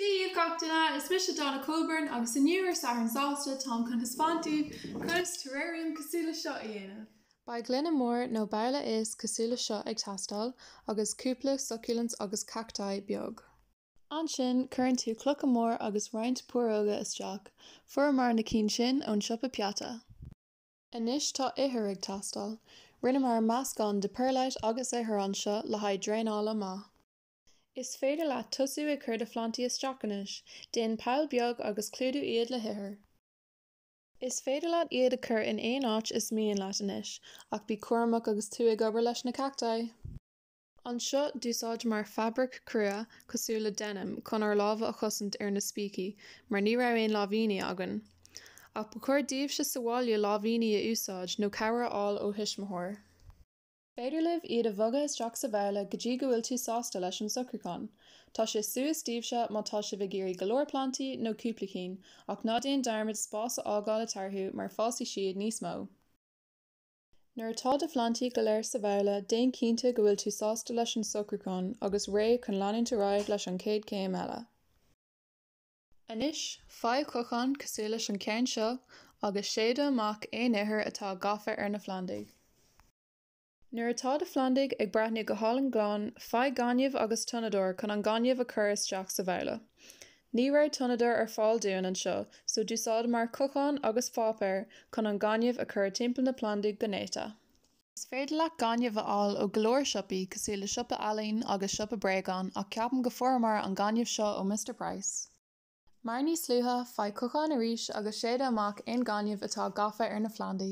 Dia dhaoibh gach duine, is mise Donna Coburn agus inniu ar Satharn Sásta, táim chun thaispeáint daoibh conas terrarium cosúil le seo a dhéanamh. Beidh gloine mór nó babhla éisc cosúil le seo ag teastáil agus cúpla succulents agus cacti beag. Ansin cuireann tú clocha mór agus roinnt púróga isteach, fuaireamar na cinn sin ón siopa peata. Anois tá ithir ag teastáil. Rinneamar meascán de perlite agus ithir anseo le haghaidh draenála maith. Is féidir leat tosú ag cur do phlantaí isteach anois, déan poll beag agus clúdú iad le hithir. Is féidir leat iad a cur in aon áit is mian leat anois, ach bí cúramach agus tú ag obair leis na cacti! anseo d'úsáideamar fabraic crua cosúil le denim chun ár lámha a chosaint ar na spící mar ní raibh aon láimhíní againn. Ach ba chóir daoibhse sa bhaile láimhíní a úsáid nó cabhair a fháil ó thuismitheoir. Is féidir libh iad a bhogadh isteach sa bhabhla go dtí go bhfuil tú sásta leis an socrúchán. Tá sé suas daoibhse má tá sibh ag iarraidh go leor plantaí nó cúpla cinn, ach ná déan dearmad spás a fhágáil eatarthu mar fásfaidh siad níos mó. Nuair atá do phlandaí go léir sa bhabhla, déan cinnte go bhfuil tú sásta leis an socrúchán agus réidh chun leanúint ar aghaidh leis an chéad chéim eile. Anois, faigh cochán cosúil leis an ceann seo agus séideadh amach aon ithir atá gafa ar na phlandaí. Nuair atá do phlandaí ag breathnú go hálainn glan, faigh gaineamh agus tonnadóir chun an gaineamh a chur isteach sa bhabhla. Ní raibh tonnadóir ar fáil dúinn anseo so d'úsáideamar cochán agus páipéar chun an gaineamh a chur timpeall na plandaí go néata. Is féidir leat gaineamh a fháil ó go leor siopaí cosúil le siopa ealaín agus siopa bréagán ach ceapaim go bhfuaireamar an gaineamh seo ó Mister Price. Mar níos luaithe, faigh cochán arís agus séideadh amach aon ghaineamh atá gafa ar na phlandaí.